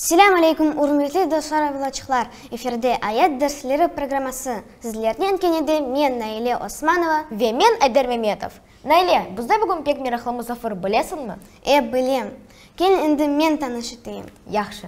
Selâm aleykum, ürmetli dostlar avlaçıqlar! Efirde Ayat dersleri programması. Sizlernen kenede men Naile Osmanova. Ve men Ayder Memetov. Naile, bizde bugün pek meraqlı musafir, bilesiñmi? E, bilem. Kel, endi men tanış eteyim. Yahşı.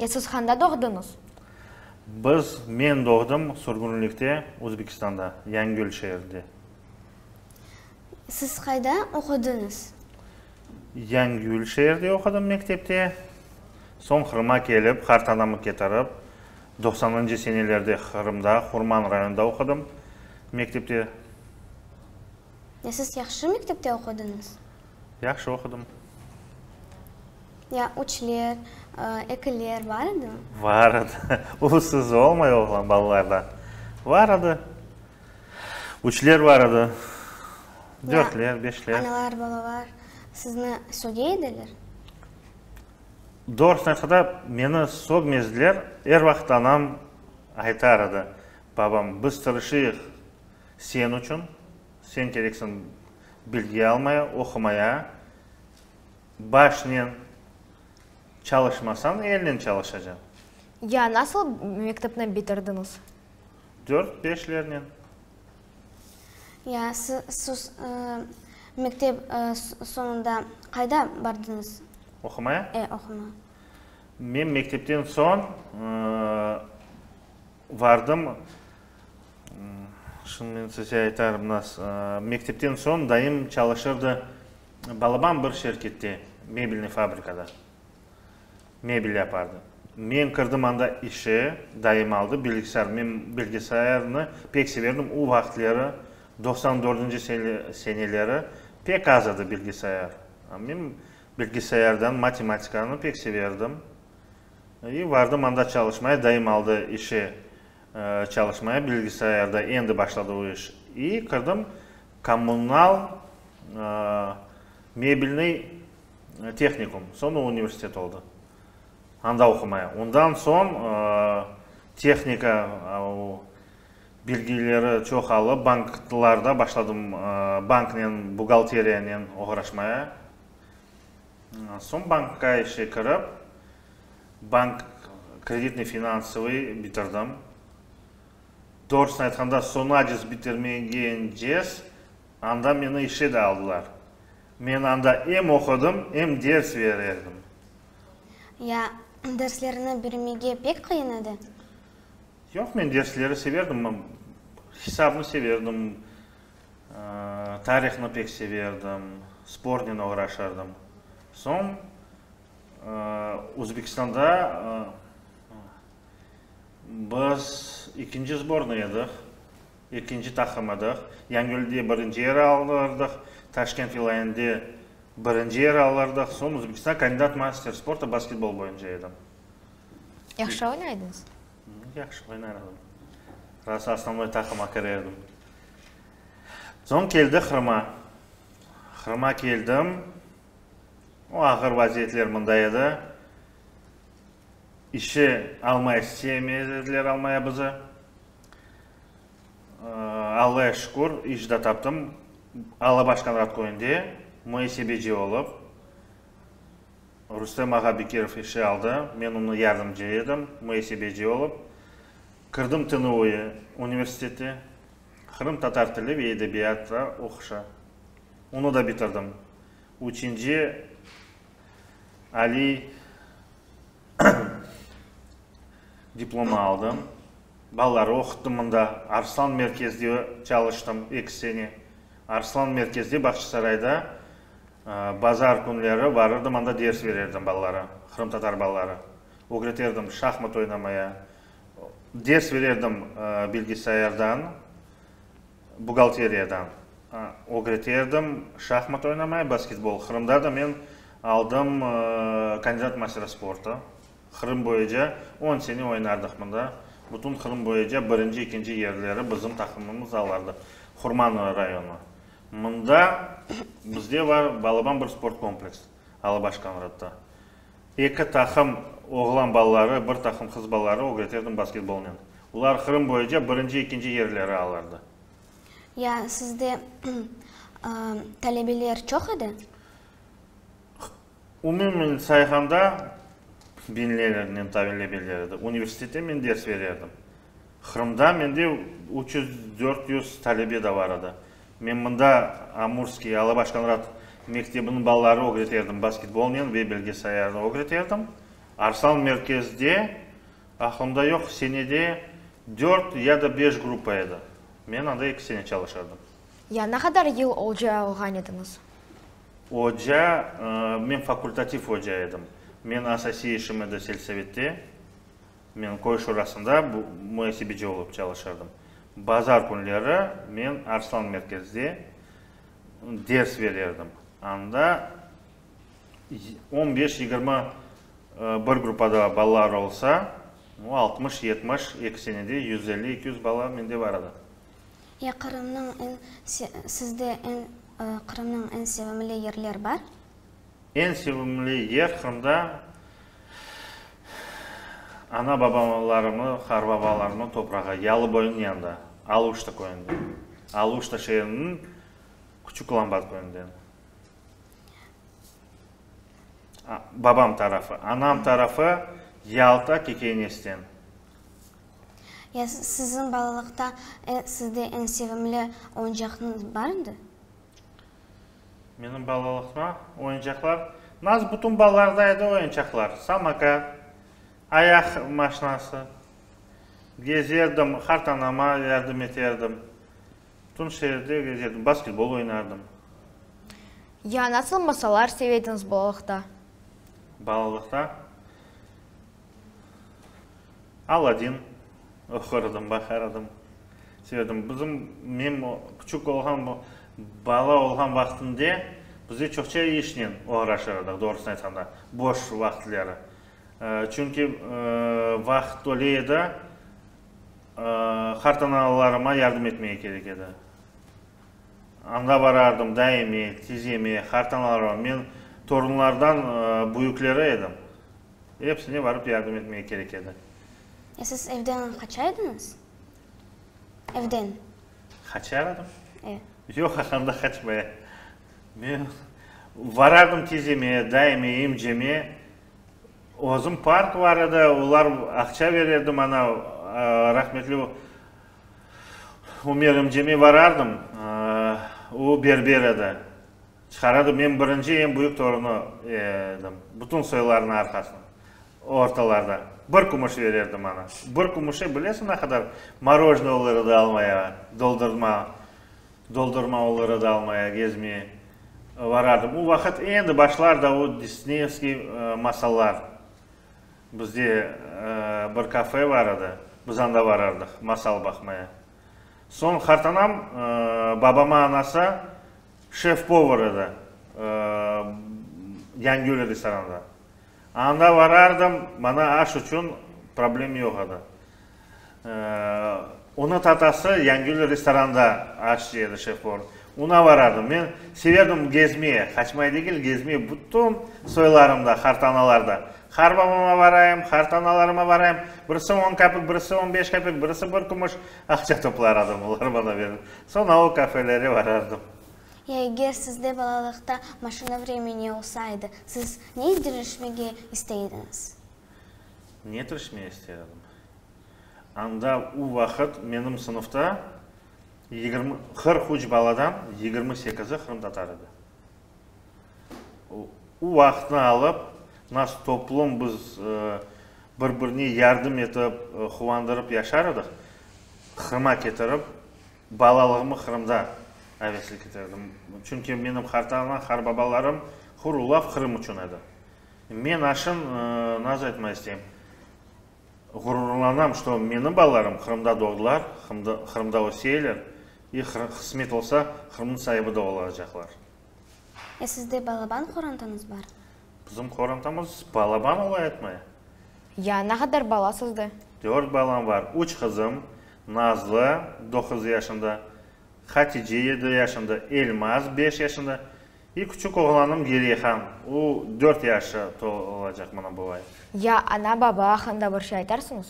E, siz handa doğdıñız? Biz, men doğdım sürgünlikte, Özbekistanda, Yañigöl şeerinde. Siz qayda oqudıñız? Yañigöl şeerde oqudım mektepte. Soñ Qırıma kelip, qartanamı ketirip, doqsanıncı senelerde Qırımda, Hurman rayonında oqudım mektepte. E, siz yahşı mektepte oqudıñız? Yahşı oqudım. Ya üçler, ekiler bar edi? Bar edi. Ulusız olmay oğlan balalarda. Bar edi. Üçler bar edi. Dörtler, beşler. Analar, balalar sizni söge ediler? Doğrusını aytqanda, meni sögmezdiler. Er vaqıt anam aytar edi, babam, biz tırışıyıq señ içün. Sen kereksiñ bilgi almaya, oqumaya. Başnen çalışmasañ, elnen çalışacañ. Ya nasıl mektepni bitirdiñiz? Dört, beşlernen. Ya siz mektep soñunda qayda bardıñız? Oqumaya? E, oqumaya. Men mektepten soñ, Vardım. Şimdi men size aytarım nas. Mektepten soñ dayım çalışırdı balabam bir şirkette, mebelniy fabrikada. Mebel yapardı. Men kirdim anda işe, dayım aldı bilgisayar. Men bilgisayarnı pek severdim. O vaqıtları, doqsan dördünci seneleri pek az edi bilgisayar. Men bilgisayardan matematikanı pek severdim. I, vardım anda çalışmaya, dayım aldı işe çalışmaya, bilgisayarda endi başladı o iş. I, kirdim kommunal mebelnıy tehnikum, soñra universitet oldı, anda oqumaya. Ondan soñ tehnika o bilgileri çoqalıp, banklarda başladım, banknen, buğalteriyanen oğraşmaya. Soñ bankka işe kirip, bank kreditnıy-finansovoy bitirdim. Doğrusını aytqanda, soñacız bitirmegencez, anda meni işe de aldılar. Men anda em oqudım, em ders berirdim. Ya derslerni birmege pek qıyın edi? Yoq, men dersleri severdim. Hisabnı severdim. Tarihni pek severdim, spornen oğraşardım. Soñ Özbekistanda biz ekinci sbornıy ediq, ekinci taqım ediq. Yañgölde birinci yer alırdıq, Taşkent vilâyende birinci yer alırdıq. Soñ Özbekistan kandidat master sporta basketbol boyunca edim. Yahşı oynaydınız? Yahşı oynar edim. Rası osnovnoy taqıma kire edim. Soñ keldi Qırıma. Qırıma keldim. O ağır vaziyetler mında edi. İşe almay isteyemez ediler almaya bizi. Allaya şükür, iş de taptım. Alabaşkan rad köyünde, muesebeci olıp. Rustem ağa Bekirov işe aldı, men onı yardımcı edim, müesebeci olıp. Kirdim TNUE universiteti, Qırım tatar tili ve edebiyatı oquşa. Onı da bitirdim. Üçünci aliy diplomı aldım. Balaları oquttum mında. Arslan merkezde çalıştım eki sene. Arslan merkezde Bağçasarayda Bazar künleri varırdım, anda ders verirdim balalara, qırımtatar balalara. Ögretirdim şahmat oynamaya. Ders verirdim bilgisayardan, buğgalteriyadan. Ögretirdim şahmat oynamaya, basketbol. Qırımda da men aldım kandidat mastera sporta. Qırım boyuca on sene oynardıq mında. Bütün Qırım boyuca birinci, ikinci yerleri bizim taqımımız alardı. Hurmanlı rayonı. Mında bizde bar balaban bir sport kompleks, Alabaş Konradta. Eki taqım oğlan balaları, bir taqım qız balaları ögreterdim basketbolnen. Olar Qırım boyunca birinci, ekinci yerleri alardı. Ya sizde talebeler çoq edi? Umumen sayğanda biñlernen talebeler edi. Universitette men ders bererdim. Qırımda mende üç yüz, dört yüz talebe de bar edi. Men mında Amurskiy, Alabaş Konrad mektebiniñ balaları ögreterdim basketbolnen ve belge sayarnı ögreterdim. Arslan merkezde, aqlımda yoq, senede dört ya da beş gruppa edi. Men anda eki sene çalışardım. Ya ne qadar yıl oca olğan ediñiz? Oca, men fakultativ oca edim. Men asasiy işim edi selsovette. Men köy şurasında muasebeci olıp çalışırdım. Bazar künleri men Arslan merkezde ders berirdim. Anda on beş-yigirmi bir gruppada balalar olsa, altmış-yetmiş, eki senede yüz elli-eki yüz bala mende bar edi. Ya Qırımnıñ en, sizde en, Qırımnıñ en sevimli yerler bar? Eñ sevimli yer Qırımda ana-babalarımnı, qarbabalarımnı toprağı, Yalıboyunıñ yanında, Aluşta köyünde. Aluşta şeeriniñ Küçük Lambat köyünden. Babam tarafı. Anam tarafı Yalta, Kekeynesten. Ya siziñ balalıqta sizde eñ sevimli oyuncaqnıñ barmıdı? Menim balalıqta oyuncaqlar, nasıl bütün balalarda edi oyuncaqlar, samokat, ayaq maşinası, gezerdim, qartanama yardım eterdim, bütün şeerde gezerdim, basketbol oynardım. Ya nasıl masallar sevediñiz balalıqta? Balalıqta Aladin oqurdım, baqardım, severdim. Bizim, men küçük olğan, bala olğan vaqtımda bizde çoqça işnen oğraşır edik, doğrusını aytqanda, boş vaqıtları. Çünki vaqıt tole edi, qartanalalarıma yardım etmege kerek edi. Anda barardım, daime, tizeme, qartanalalarıma. Men torunlardan büyükleri edim. Epsine barıp yardım etmege kerek edi. E siz evden qaça ediñiz? Evden. Qaçar edim? E. Yoq, anda qaçmaya. Men varardım tizeme, dayime, emceme. Özüm park bar edi, olar aqça bererdi maña, rahmetli Umer emceme varardım, o berber edi. Çıqaradı, men birinci, eñ büyük torunı edim. Bütün soylarnıñ arqasına, ortalarda. Bir kümüş verirdi maña. Bir kümüşe bilesiñ ne qadar morožnıy olur edi almaya, doldurma, doldurma olur edi almaya, gezmeye varardım. O vaqıt endi başlardı o Disneyevskiy masallar. Bizde bir kafe bar edi, biz anda varardıq masal baqmaya. Soñ qartanam babama anası, Şef-povar edi Yangiöl restoranında. Anda barardım, maña aş içün problem yoq edi. Onı tatası Yangiöl restoranında aş yedi şef-povar. Oña barardım. Men severdim gezmeye, qaçmay degil, gezmeye bütün soylarımda, hartanalarda. Har babama barayım, hartanalarıma barayım. Birisi on kapik, birisi on beş kapik, birisi bir kümüş, Aqça toplaradım, olar bana berir. Soñ avul kafelere barardım. Ya eger sizde balalıqta maşina vremeni olsa edi, siz ne tirişmege istey ediñiz? Ne tirişmege istey edim? Anda u vaqıt menim sınıfta yigirmi, qırq üç baladan yigirmi sekizi qırımtatar edi. O vaqıtnı alıp, nasıl toplum biz bir-birine yardım etip, quvandırıp yaşar edik, Qırım'a ketirip, balalığımı Qırımda aveslik eterdim. Çünki menim qar tağına, qar babalarım hır ulaf Qırım içün edi. Men aşın nazı etmay isteyim. Ğururlanam, çto menim balalarım Qırımda doğdılar, Qırımda öseyler, i qısmet olsa, Qırımnıñ saibi da olacaqlar. E sizde balaban qorantanız bar? Bizim qorantamız balaban olayatmay? Ya, ne qadar bala sizde? Dört balam bar, üç qızım, Nazlı, doquz yaşında, Hatice, yedi yaşında, Elmaz, beş yaşında, İ küçük oğlanım Geriyehan, u dört yaşı tolacaq mına bu ay. Ya ana-baba aqqında bir şey aytarsıñız?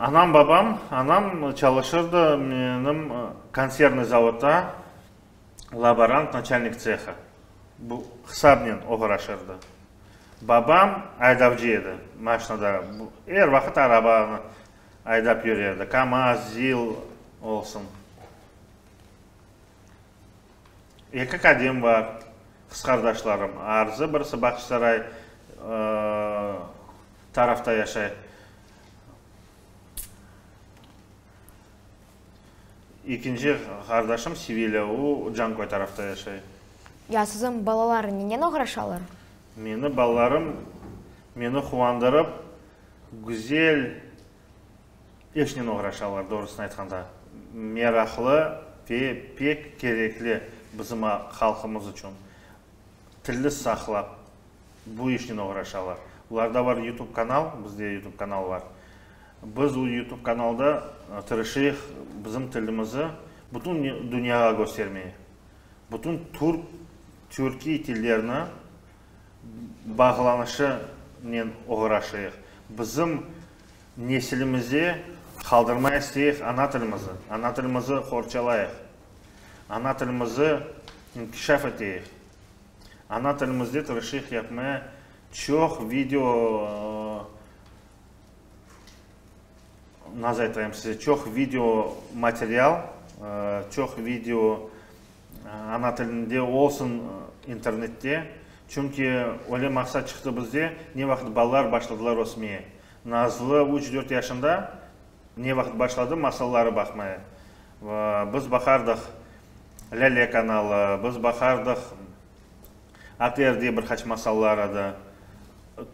Anam-babam, anam çalışırdı menim konsernıy zavodda, laborant, naçalnik tsehı, bu hısabnen oğraşırdı. Babam aydavcı edi, maşnada, er vaqıt arabanı aydap yürerdi, kamaz, zil olsun. Eki qadem var, qızqardaşlarım. Arzı birisi Bahçısaray tarafta yaşay. Ekinci qardaşım Sevilya, o Canköy tarafta yaşay. Ya siziñ balalar nenen oğraşalar? Meni balalarım meni quvandırıp, güzel. İşnen oğraşalar, doğrusını aytqanda. Meraqlı ve pek kerekli bizim halqımız içün. Tilli saqlap, bu işnen oğraşalar. Ularda bar YouTube kanal, bizde YouTube kanal bar. Biz o YouTube kanalda tırışıyıq bizim tilimizi bütün dünyağa köstermeye. Bütün türk, türkiy tillerini bağlanışınen oğraşayıq. Bizim nesilimize qaldırmay isteyik ana tilimizi. Ana tilimizi qorçalayıq. Ana tilimizi inkişaf eteyik. Ana tilimizde tırışıyıq yapmaya çoq video nazaytayım size, çoq video material, çoq video Ana tilinde olsun internette, çünki öyle maqsat çıqtı bizde, ne vaqıt balalar başladılar ösmeye. Nazlı üç, dört yaşında ne vaqıt başladı masalları baqmaya. Biz baqardıq Lâle kanalı, biz baqardıq ATR diye bir qaç masallar edi,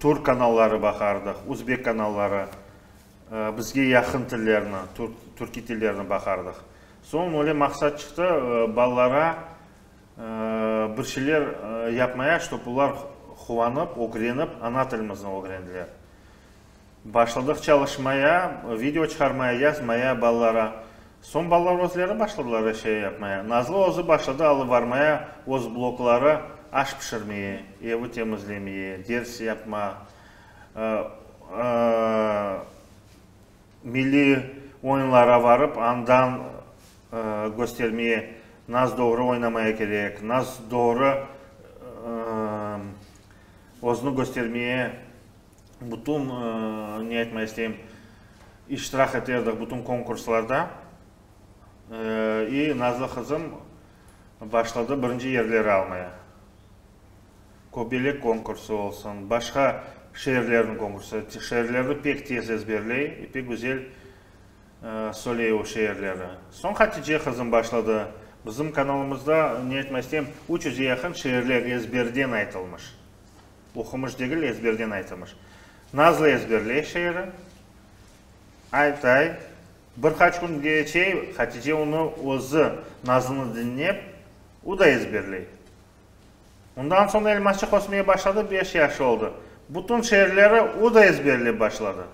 türk kanalları baqardıq, uzbek kanalları. Bizge yaqın tillerni, türkiy tillerni baqardıq. Soñ öyle maqsat çıqtı, balalarğa bir şeyler yapmaya, ştob olar quvanıp, ögrenip, ana tilimizni ögrendiler. Başladıq çalışmaya, video çıqarmaya, yazmaya balalarğa. Soñ balalar özleri başladılar er şey yapmaya. Nazlı özü başladı alıbarmaya öz blokları, aş pişirmeye, evi temizlemeye, ders yapma. Milliy oyunlara barıp, andan köstermeye, nas doğru oynamaya kerek, nas doğru özüni köstermeye bütün, ne aytmaq isteyim, iştirak eterdik bütün konkurslarda. İ nazlı qızım başladı birinci yerleri almaya. Köbelek konkursı olsun, başqa şeerlerniñ konkursı, şeerlerni pek tez ezberley, pek güzel söyley o şeerleri. Soñ Hatice qızım başladı. Bizim kanalımızda, ne aytmaq isteyim, üç yüzge yaqın şeerler ezberden aytılmış. Oqumış degil, ezberden aytılmış. Nazlı ezberley şeeri. Aytay, bir qaç kün keçey, Hatice onı özü, Nazlı'nı diñlep, o da ezberley. Ondan soñ elmasçıq ösmeye başladı, beş yaşı oldı. Bütün şeerleri o da ezberlep başladı.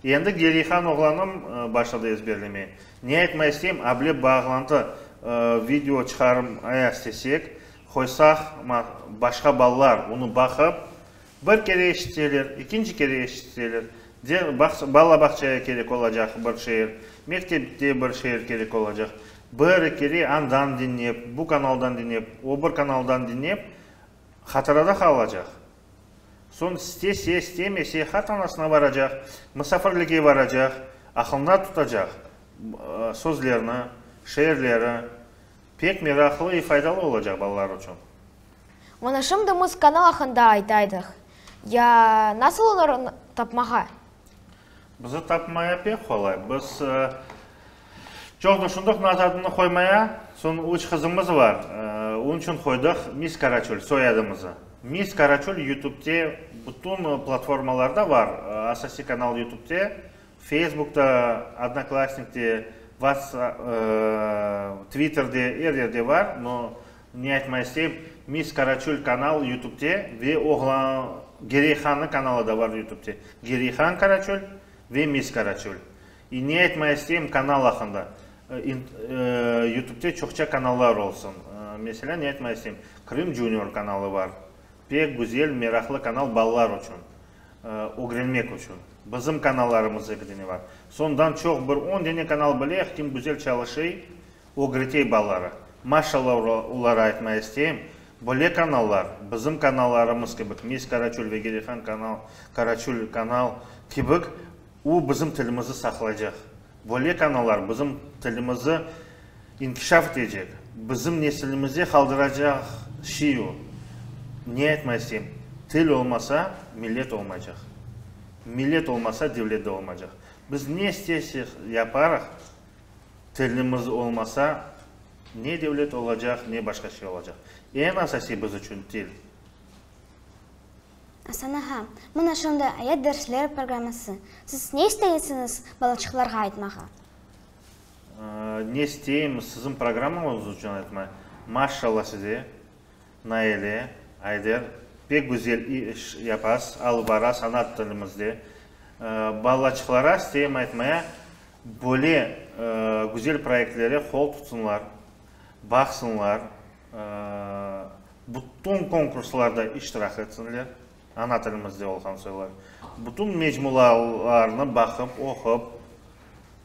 Endi Gerihan oğlanım başladı ezberlemeye. Ne aytmay isteyim, able bağlantı video çıqarmaya istesek, qoysaq, başqa balalar onı baqıp, Bir kere eşitseler, ikinci kere eşitseler, de, bala-bağçaya kerek olacaq bir şeer, mektepte bir şeer kerek olacaq. Bir-iki kere andan diñlep, bu kanaldan diñlep, o bir kanaldan diñlep, hatırada qalacaq. Soñ istese, istemese, hatanasına baracaq, musafirlige baracaq, aqılında tutacaq sözlerni, şeerleri. Pek meraqlı i faydalı olacaq balalar içün. Mana şimdi muz kanal aqqında aytaydıq. Ya nasıl olar tapmağa? Bizi tapmaya pek qolay. Biz çoq düşündük naz adını qoymaya. Soñ üç qızımız bar. Onıñ içün qoydıq Mis Karaçöl soyadımızı. Mis Karaçöl Yutübde bütün platformalarda bar. Asasiy kanal Yutübde. Feysbukta, Odnoklassnikte, Whatsapp, Twitterde, er yerde bar, no, ne aytmay isteyim, Miss Karaçöl kanal Yutubte ve oğlan, Gereyhanniñ kanalı da bar Yutubte. Gereyhan Karaçöl ve Miss Karaçöl. İ, ne aytmay isteyim kanal aqqında. Yutubte çoqça kanallar olsun. Meselâ, ne aytmay isteyim, Krım Junior kanalı bar. Pek güzel, meraqlı kanal balalar içün. ögrenmek içün bizim kanallarımız eki dene bar. Sondan çoq bir on dene kanal bileh, kim güzel çalışey, ögretey balaları. Maşalla olara aytmay isteyim, böyle kanallar, bizim kanallarımız kibik, Mes Karaçöl ve Gerihan kanal, Karaçöl kanal kibik O, bizim tilimizni saqlaycaq. Böyle kanallar bizim tilimizni inkişaf etecek, bizim nesilimizge qaldıracaq şey o. Ne aytma isteyim, til olmasa, millet olmaycaq. Millet olmasa, devlet de olmaycaq. Biz ne istersek yaparıq, tilimiz olmasa, ne devlet olacaq, ne başqa şey olacaq. Eñ asasiy biz içün til. Asana ha, mına şunday ayet dersler programması. Siz ne isteysiñiz balaçıqlarğa aytmağa? Ne isteyim siziñ programmañız içün aytma. Maşşalla size, Naile, Ayder, pek güzel iş yapasız, alıp barasız ana tilimizde. Balaçıqlara isteyim aytmaya, böyle güzel proyektlere qol tutsınlar, baqsınlar, Bütün konkurslarda iştirak etsinler, ana tilimizde olğan soylar. Bütün mecmualarnı baqıp, oqup,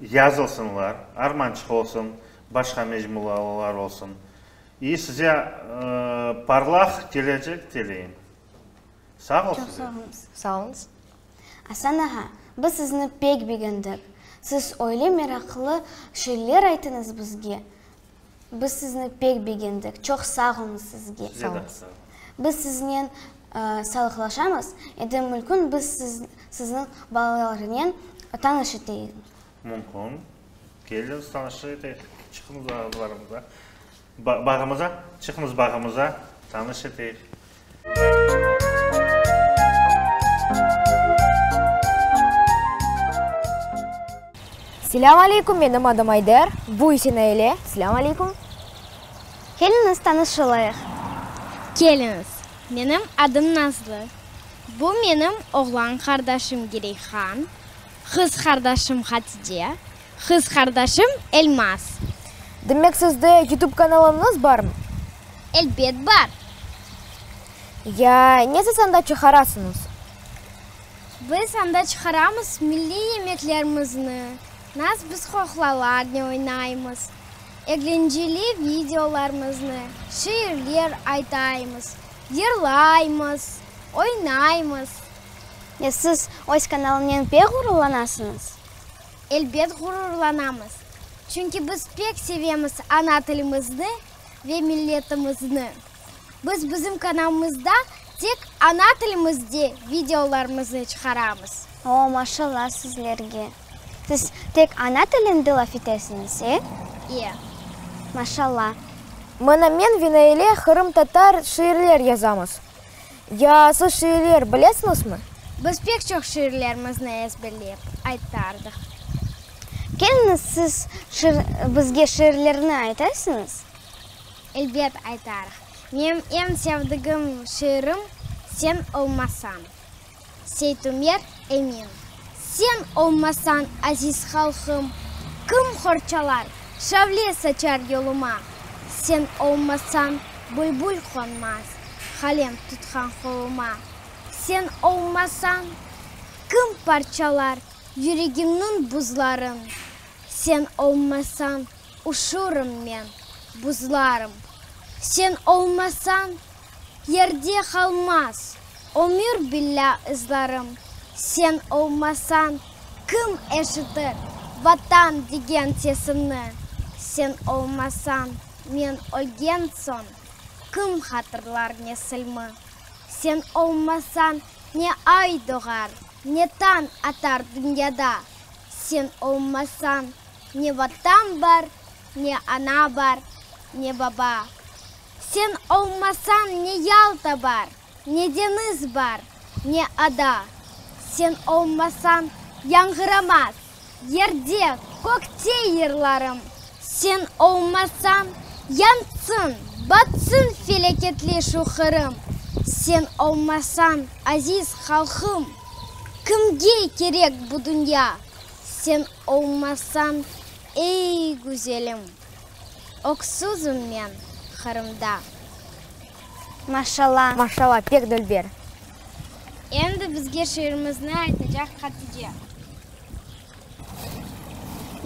yazılsınlar, Armançıq olsun, başqa mecmualar olsun. İ, size parlaq kelecek tileyim. Sağ ol size. Sağ olunız. Asan ağa, biz sizni pek begendik. Siz öyle meraqlı şeyler aytıñız bizge. Biz sizni pek begendik. Çoq sağ olunız sizge. Size de sağ olunız. Biz siznen salıqlaşamız. Endi mümkün biz sizniñ balalarınen tanış eteyik. Mümkün. Keliñiz, tanış eteyik. Çıqıñız bağımıza. Bağımıza. Çıqıñız bağımıza, tanış eteyik. Selâm aleykum, menim adım Ayder, bu ise Naile, selâm aleykum. Keliñiz tanışılayıq. Keliñiz, menim adım Nazlı, bu menim oğlan qardaşım Gireyhan, qız qardaşım Hatide. Qız qardaşım Elmaz. Demek sizde YouTube kanalınız barm? Elbet bar. Ya, nesiz anda çıqarasıñız? Biz anda çıqaramız milliy yemeklerimizni, nas biz qoqlalarne oynaymız, eglenceli videolarmıznı, şiirler aytaymız, yırlaymız, oynaymız. Ya siz öz kanalınınen pek ğururlanasıñız? Elbet ğururlanamız, çünki biz pek sevemiz ana tilimizni ve milletimizni. Biz bizim kanalımızda tek ana tilimizde videolarımıznı çıqaramız. O, maşalla sizlerge! Siz tek ana tilinde laf etesiñiz, e? E. Maşalla! Mına men ve Naile qırımtatar şiirler yazamız. Ya siz şiirler bilesiñizmi? Biz pek çoq şiirlerimizni ezberlep aytardıq. Keliñiz, siz bizge şiirlerni aytasiñız? Elbet aytarıq. Menim eñ sevdigim şiirim Sen olmasañ. Seytumer Emin, sen olmasañ, aziz halqım, Kim qorçalar, şavle saçar yoluma? Sen olmasañ, bülbül qonmaz, Qalem tutqan qoluma. Sen olmasañ, kim parçalar Yüregimniñ buzların? Sen olmasañ, üşürüm men, buzlarım. Sen olmasañ. Yerde qalmaz ömür billâ ızlarım, Sen olmasañ kim eşitir Vatan degen sesimni, Sen olmasañ men ölgen soñ kim hatırlar nesilmi, Sen olmasañ ne ay doğar, ne tañ atar dünyada, Sen olmasañ ne Vatan bar, ne ana bar, ne baba, Sen olmasañ ne Yalta bar, ne deñiz bar, ne ada. Sen olmasañ yañğıramaz yerde, kökte yırlarım. Sen olmasañ yansın, batsın felâketli şu Qırım. Sen olmasañ, aziz halqım, kimge kerek bu dünya? Sen olmasañ, ey güzelim. Öksüzim men Qırımda. Maşalla, maşalla, pek dülber. Endi bizge şiirimizni aytacaq Hatice.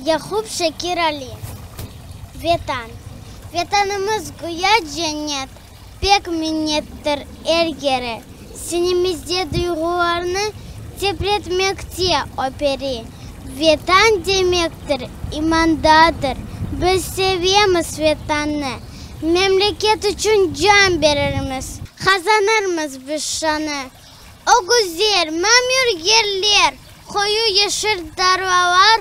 Yaqup Şakir Ali, Vetan. Vetanımız güya cennet. Pek minnettir er kere, sinimizde duyğularnı titretmekte o peri. Vetan demektir, imandadır, biz sevemiz Vetannı, memleket içün can berirmiz, qazanırmız biz şanı. O güzel, mamür yerler, qoyu yeşil tarlalar,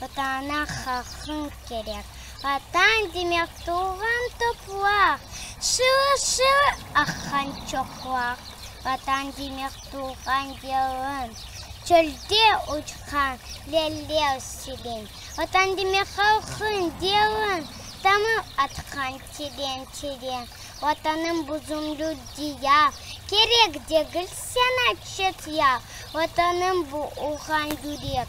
Vatana haqıñ kerek. Vatan demek tuvğan topraq, Şılı-şılı aqqan çoqlaq. Vatan demek tuvğan gelin, Çölde uçqan lelev selin. Vatan demek halqıñ derin, Tamır atqan teren-teren. Vatanım buzumlu diyar, Kerek degil saña çet yar. Vatanım bu urğan yürek,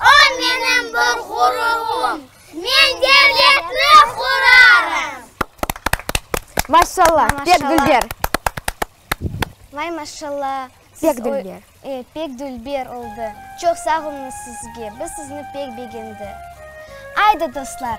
O, menim bir ğururım. Men devletni qurarım. Maşallah, pek dülber. Vay maşallah. Pek dülber. E, pek dülber oldı. Çoq sağ olunız sizge. Biz sizni pek begendik. Aydı, dostlar!